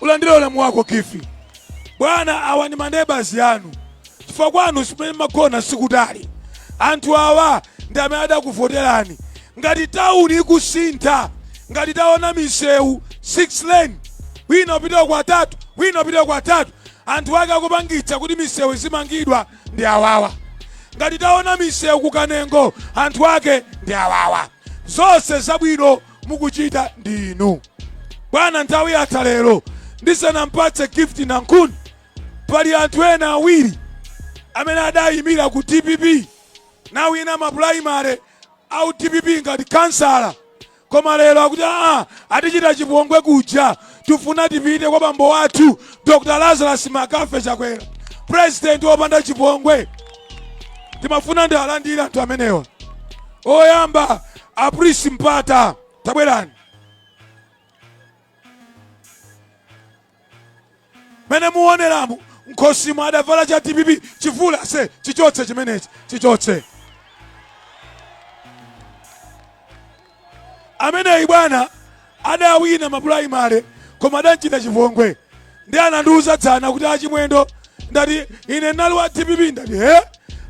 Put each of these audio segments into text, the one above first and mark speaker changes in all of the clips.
Speaker 1: ulandire ulemu wako gift bwana awa ndi maneba anu chifukwa kwanu simene magona sikutali anthu awa ndi amene adakuvoterani ngati tauni ikusintha ngati taona misewu 6 lane wina upita kwa tatu wina upita kwa tatu anthu ake akupangitsa kuti misewu zimangidwa ndi awawa ngati taona misewu kukanengo anthu ake ndi awawa zonse zabwino mukuchita ndi inu bwana nthawi yatha lero ndisanampatse gift nankhuni pali anthu ena awiri amene adayimira ku dpp nawina mapulaimale a dpp ngati kansala koma lero akuti aa atichita chipongwe kuja tifuna tipite kwa bambo wathu dr lazarus mccarthy chakwera president wopanda chipongwe timafuna ndiwalandire anthu amenewa oyamba a prince mpata tabwerani mene muoneramu mkhosimu adavala cha dpp chivula se chichotse chimenechi chichotse ameneyi bwana adawina mapulaimale koma adamchita chipongwe ndiye anandiuza dzana kuti achimwendo ndati ine ndinali wa dpp ndati he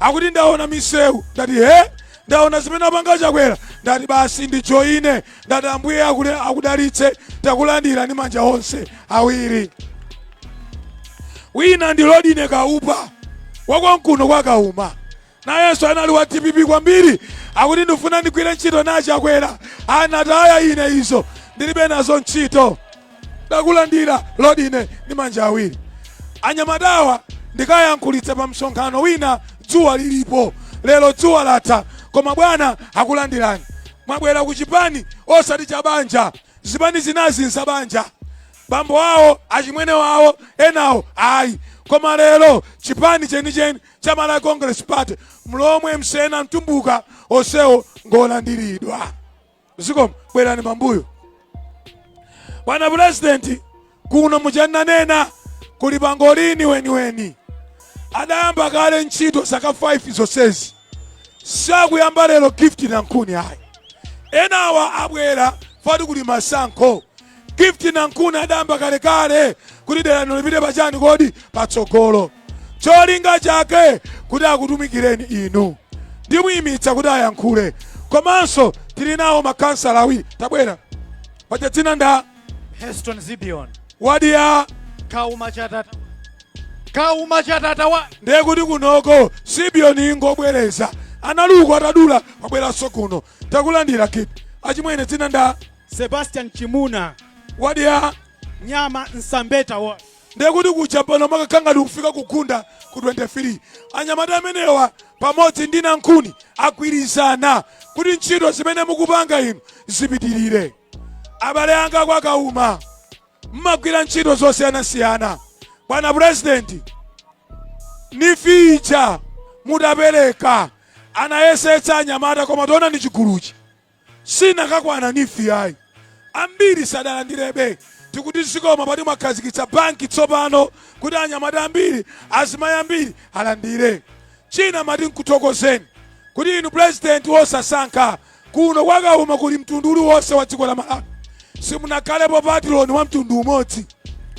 Speaker 1: akuti ndaona misewu ndati he ndaona zimene apanga chakwera ndati basi ndijoine ndati ambuye akule- akudalitse takulandira ndi manja onse awiri wina ndi lodine kaupa wakonkuno kwa kauma nayenso anali wa dpp kwambiri akuti ndifuna ndigwire ntchito na chakwera anataya ine izo ndilibe nazo ntchito takulandira lodine ndi manja awiri anyamatawa ndikayankhulitsa pa msonkhano wina dzuwa lilipo lero dzuwa latha koma bwana akulandirani mwabwera ku chipani osati cha banja zipani zinazi n'za banja bambo awo achimwene wawo enawo ayi koma lero chipani chenicheni cha Malawi Congress Party, Mlomwe, Msena, Mtumbuka onsewo ngolandiridwa. Zikomo bwerani pambuyo. Bwana President, kuno muchananena kuli pangolini weniweni adayamba kale ntchito zaka 5 zonsezi sakuyamba lero Gift Nankhuni ayi enawa abwera but kuli masankho Gift Nankhuni adayamba kalekale kuti dera lino lipite pachani kodi patsogolo. Cholinga chake kuti akutumikireni inu. Ndimuyimitsa kuti ayankhule. Komanso tili nawo makansala awiri. Tabwera. Paja dzina nda Heston
Speaker 2: Zibion. wadi
Speaker 1: ya
Speaker 2: Kauma chatata. Kauma chatata wa. ndiye kuti
Speaker 1: kunoko Zibion ingobwereza analuku atadula wabweranso kuno takulandira Gift achimwene dzina nda Sebastian
Speaker 2: Chimuna. Wadi
Speaker 1: ya
Speaker 2: Nyama Nsambeta wa. ndekuti
Speaker 1: kuja pano makakhala ngati kufika kugunda ku 23 anyamata amenewa pamodzi ndi nankhuni agwirizana kuti ntchito zimene mukupanga inu zipitirire abale anga kwa Kauma mmagwira ntchito zosiyanasiyana bwana purezidenti NEEF ija mudapereka anayesetsa anyamata koma tiona ndi chiguluchi sinakakwana NEEF ayi ambiri sadalandirebe tikuti zikomo poti mwakhazikitsa banki tsopano kuti anyamata ambiri azimayi ambiri alandire china mati nkuthokozeni kuti inu pulezidenti wosasankha kuno kwa Kauma kuli mtundu uliwonse wa dziko la malawi simunakhalepo patiloni wa mtundu umodzi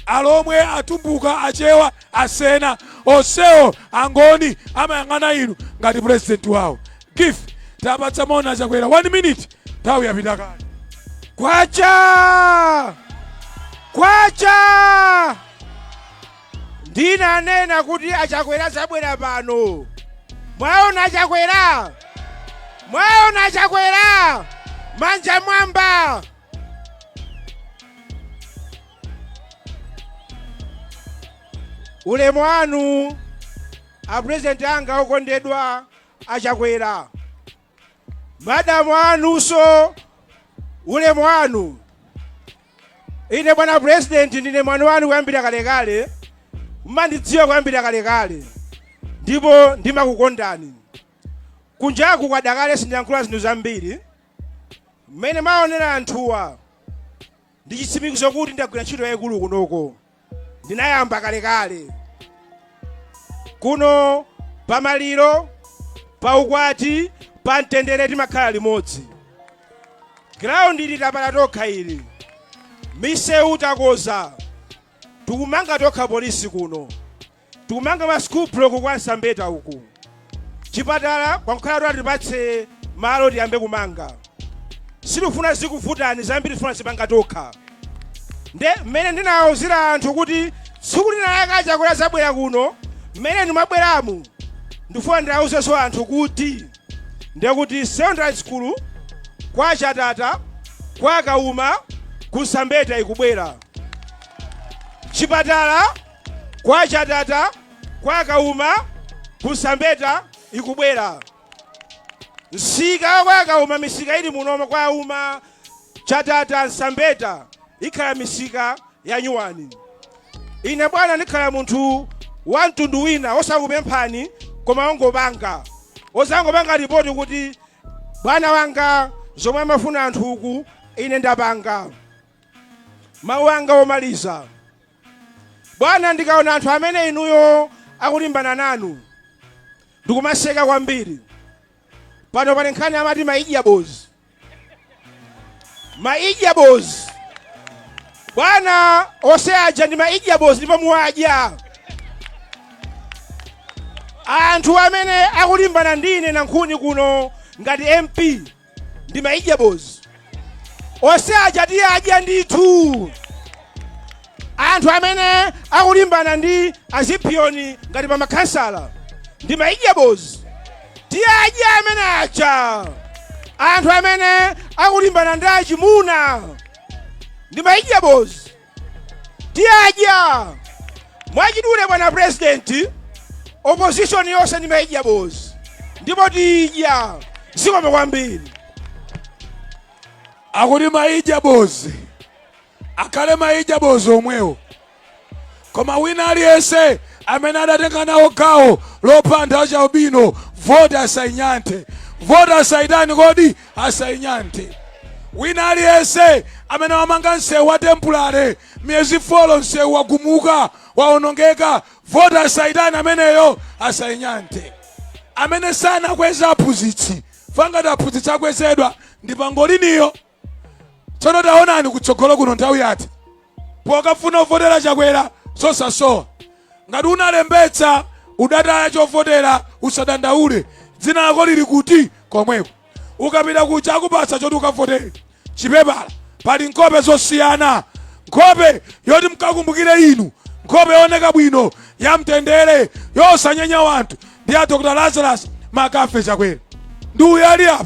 Speaker 1: alomwe atumbuka achewa asena onsewo angoni amayang'ana inu ngati pulezidenti wawo Gift tapatsa moni achakwera 1 minute nthawi yapita kale
Speaker 3: kwacha kwacha ndinanena kuti achakwera azabwera pano mwaona achakwera mwaona achakwera manja mmwamba ulemu wanu apurezidenti anga okondedwa achakwera madamu anunso ulemu wanu ine bwana president ndine mwana wanu kuyambira kalekale mmandidziwa kuyambira kalekale ndipo ndimakukondani kunjaku kwada kale sindiyankhula zinthu zambiri mmene mwaonera anthuwa Ndi chitsimikizo kuti ndagwira ntchito yayikulu kunoko. Ndinayamba kalekale. Kuno pa maliro, pa ukwati, pa mtendere timakhala limodzi. Ground ili tapala tokha ili. Misewu takoza. Tikumanga tokha polisi kuno. Tikumanga ma school block kwa Nsambeta uku. Chipatala kwangokhala kuti atipatse malo tiyambe kumanga. Sitifuna zikuvutani zambiri tifuna zipanga tokha. Nde mmene ndinawauzira anthu kuti tsiku lina lake achakwera azabwera kuno mmene ndimabweramu ndifuna ndiwauzenso anthu kuti ndekuti secondary school kwa chatata kwa kauma ku Nsambeta ikubwera chipatala Kwa Chatata, kwa Kauma, ku Nsambeta ikubwera. Msika wa kwa Kauma, misika ili munomo kwa Kauma, Chatata, Nsambeta ikhala misika ya nyuwani. Ine bwana ndikhala munthu wa mtundu wina osakupemphani koma ongopanga odzangopanga ripoti kuti bwana wanga zomwe amafuna anthu uku ine ndapanga mawu anga omaliza Bwana ndikaona anthu amene inuyo akulimbana nanu ndikumaseka kwambiri pano pali nkhani amati maidya bozi maidya bozi bwana ose aja ndi maidya bozi ndipo muwadya anthu amene akulimbana ndi ine nankhuni kuno ngati mp ndi maidya bozi ose aja tiyadya ndithu anthu amene akulimbana ndi azipiyoni ngati pa makhansala ndi maidya bozi tiyadya amene aja anthu amene akulimbana ndi achimuna ndi maidya bozi tiyadya mwachidule bwana president opposition yonse ndi maidya bozi ndipo tiyidya zikomo kwambiri
Speaker 1: akuti maidya bozi akhale maidya bozi omwewo koma wina aliyense amene adatenga nawo gawo lopha anthu achialubino voti asainyanthe voti asaitani kodi asainyanthe wina aliyense amene wamanga msewu wa tempulare miyezi folo msewu wagumuka waonongeka voti asaitani ameneyo asainyanthe amene sanakweza aphunzitsi fangati aphunzitsi akwezedwa ndi pangoliniyo tsono taonani kutsogolo kuno nthawi yati pokafuna uvotera chakwera zosasowa ngati unalembetsa udataya chovotera usadandaule dzina lako lili kuti komweko ukapita kuja akupatsa choti ukavotere chipepala pali nkhope zosiyana nkhope yoti mkakumbukire inu nkhope yooneka bwino ya mtendere yosanyenya wanthu ndi ya dr lazarus mccarthy chakwera ndi uyu ali apa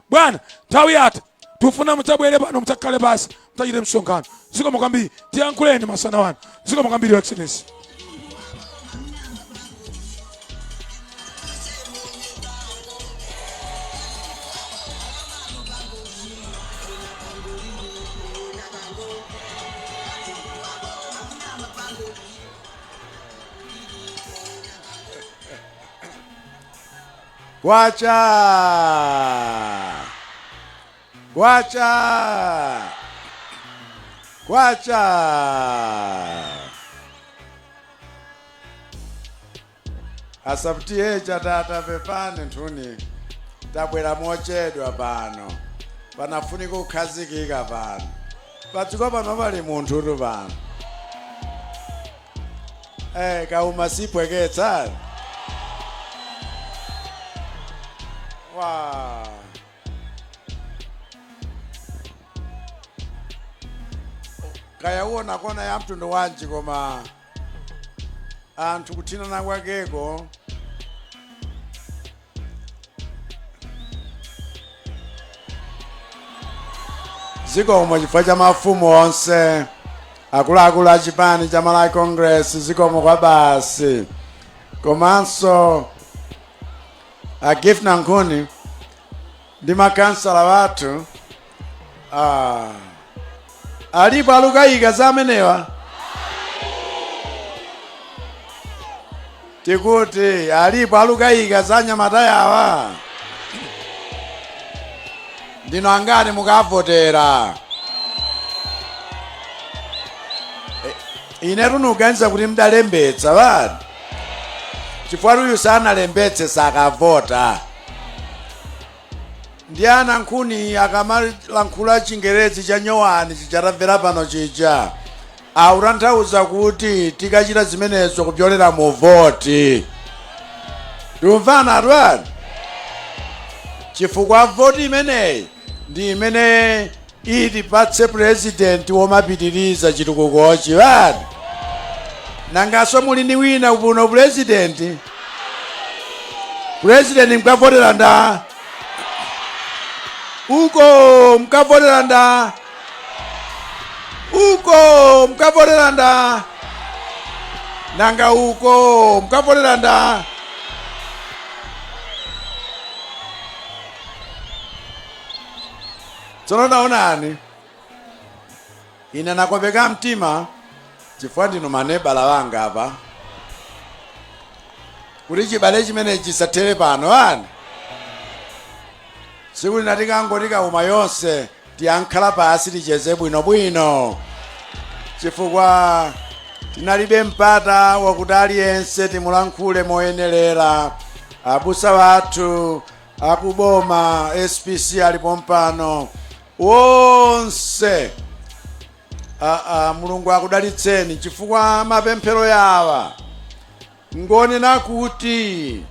Speaker 1: bwana nthawi yatha tifuna mudzabwere pano mudzakhale pasi mudzachite msonkhano zikomo kwambiri tiyankhuleni masana wanu zikomo kwambiri your excellency
Speaker 4: Kwacha! Kwacha! Kwacha! a Sub TA Chatata pepani anthuni tabwera mochedwa pano panafunika kukhazikika pano padziko pano pali munthutu pano Eh, kauma sipweketsa. Wow. Kaya uona kona ya mtundu wanji koma anthu kuthinana kwakeko zikomo chifukwa cha mafumu onse akuluakulu a chipani cha malawi congress zikomo kwa basi komanso a gift nankhuni ndi makhansala wathu Ah. alipo alukayika za amenewa tikuti alipo alukayika za anyamata awa ndinu angati mukavotera inetu ndikuganiza kuti mdalembetsa vani chifukwa uyu sanalembetse sakavota Ndiye a nankhuni akamalankhula chingerezi cha nyowani chija tamvera pano chija, akutanthauza kuti tikachita zimenezo kupyolera mu voti. Tikumvana anthuni? Chifukwa voti imeneyi ndi imene Itipatse president womapitiliza chitukukochi bana nanganso muli ndi wina kupuno president president mkavotera nda uko mkavotera nda uko mkavotera nda nanga uko mkavotera nda Tsono taonani, ine ndakopeka mtima chifukwa ndinu manebala anga apa, kuti chibale chimenechi chisathere pano ayi tsiku lina tikangoti kauma yonse tidzakhala pansi ticheze bwinobwino chifukwa tinalibe mpata wakuti aliyense timulankhule moyenerera abusa wathu akuboma spc ali pompano wonse aa mulungu akudalitseni chifukwa mapemphero yawa ngonena kuti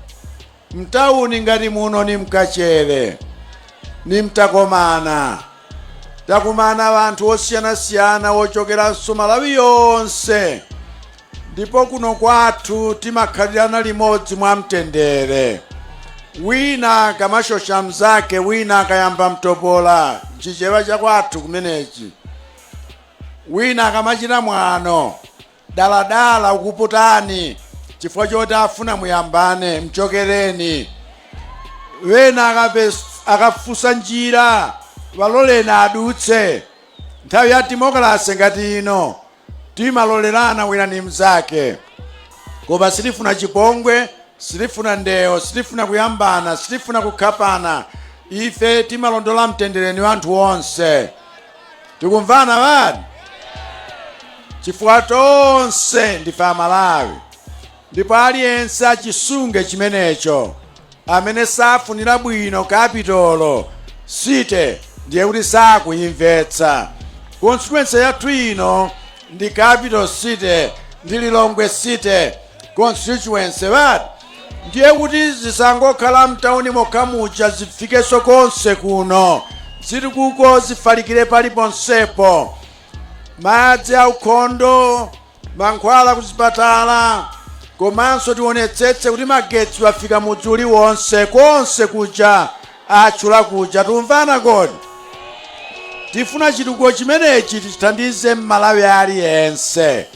Speaker 4: mtawuni ngati muno ni mkachere ni mtakomana takumana wanthu osiyanasiyana wochokeranso malawi yonse Ndipo kuno kwathu timakhalirana limodzi mwamtendere. Wina akamashosha mnzake wina akayamba mtopola, nchichewa chakwathu kumenechi. Wina akamachita mwano, daladala ukuputani chifukwa choti afuna muyambane, mchokereni. Wena akapes- akafunsa njira, waloleni adutse. Nthawi ya demokalase ngati ino, Timalolerana wina ndi mzake koma sitifuna chipongwe, sitifuna ndewo, sitifuna kuyambana, sitifuna kukhapana. Ife timalondola mtendere ni wanthu onse. Tikumvana bani? Chifukwa tonse ndife Amalawi. Ndipo aliyense achisunge chimenecho, amene safunira bwino Capital City, ndiye kuti sakuyimvetsa. Constituency yathu ino ndi Capital City ndi Lilongwe City Constituency, vati? Ndiye kuti zisangokhala mtauni mokha muja, zifikeso konse kuno, zitukuko zifalikire paliponsepo, madzi aukhondo, mankhwala kuzipatala komanso tionetsetse kuti magetsi wafika mudzi uliwonse konse kuja atchula kuja tumvana kodi tifuna chitukuko chimenechi tichithandize mmalawi aliyense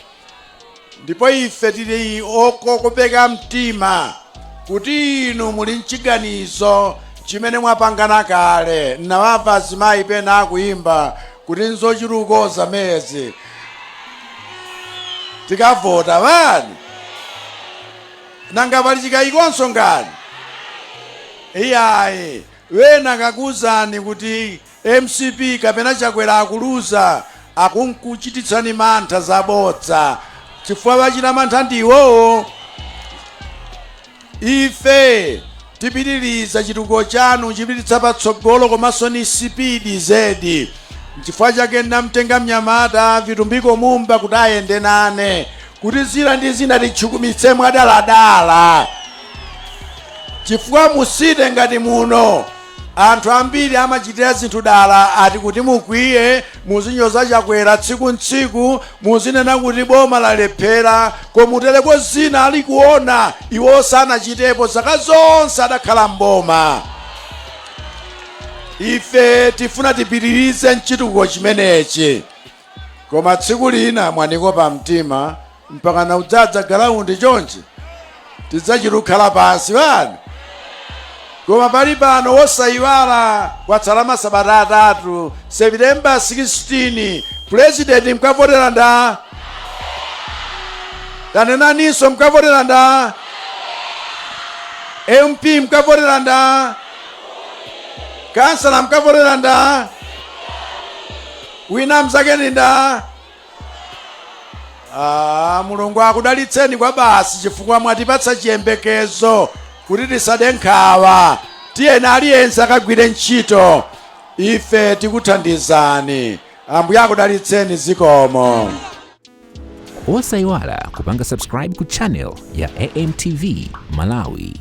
Speaker 4: ndipo ife tili okokopeka mtima kuti inu muli mchiganizo chimene mwapangana kale nawamva azimayi pena akuyimba kuti nzochitukuko zamezi tikavota bani nanga pali chikayikonso ngani iyayi wena akakuuzani kuti mcp kapena chakwera akuluza akunkuchititsani mantha zabodza chifukwa wachita mantha ndi iwowo Ife tipitiliza chitukuko chanu chipititsa patsogolo komanso ni sipidi zedi nchifukwa chake namtenga mnyamata vitumbiko mumba kuti ayende nane kuti zina ndi zina titchukumitse mwadaladala chifukwa mu city ngati muno Anthu ambiri amachitira zinthu dala ati kuti mukwiye, muzinyoza Chakwera tsiku n'tsiku, muzinena kuti boma lalephera komutereko zina ali kuona iwo sanachitepo zaka zonse adakhala m'boma. Ife tifuna tipitirize chitukuko chimenechi. Koma tsiku lina mwanikopa mtima mpakana kudzadza galaundi chonchi tidzachita kukhala pansi bani koma pali pano wosayiwala kwatsala masabata atatu september 16 pulezidenti mkavotera nda tanenaninso mkavotera nda mp mkavotera nda kansala mkavotera nda Wina mzake ndi nda. Ah, Mulungu akudalitseni kwa basi chifukwa mwatipatsa chiyembekezo kuti tisade nkhawa. Tiyeni aliyense akagwire ntchito. Ife tikuthandizani. Ambuye akudalitseni zikomo.
Speaker 5: Osaiwala kupanga subscribe ku channel ya AMTV Malawi.